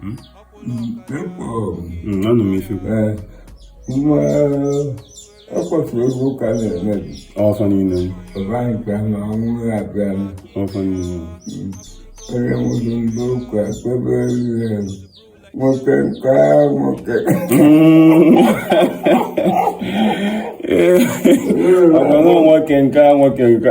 Hmm? anụ m ife nwa ọkọchị ebe ụka na-emebi ọfa niile ọba nke na ọnwụ na-abịa ọfa niile onye nwụrụ ndị ụka kpebe ihe nwoke nke nwoke ọbụna nwoke nke nwoke nke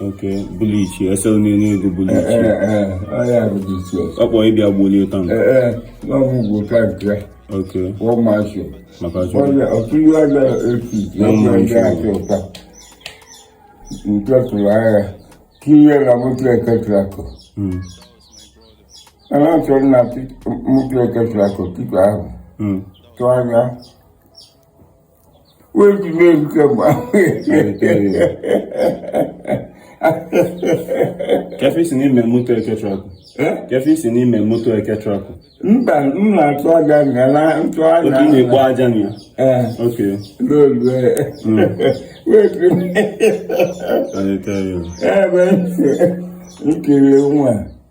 ok bulichi ese onye n'ego bulichi ọ kpọọ ịbịa gbolie taa ok maka chukwu nke tụrụ agha tinye na moto eke trakọ ana achọrọ na moto eke trakọ tupu ahụ tụọ anya kefe isi n'ime moto eke trakọ kefe isi n'ime moto eke trakọ mba m na-atụ aja nga na ntụ aja otu na-egbu aja na ya ok n'olu wetu ebe nkiri nwa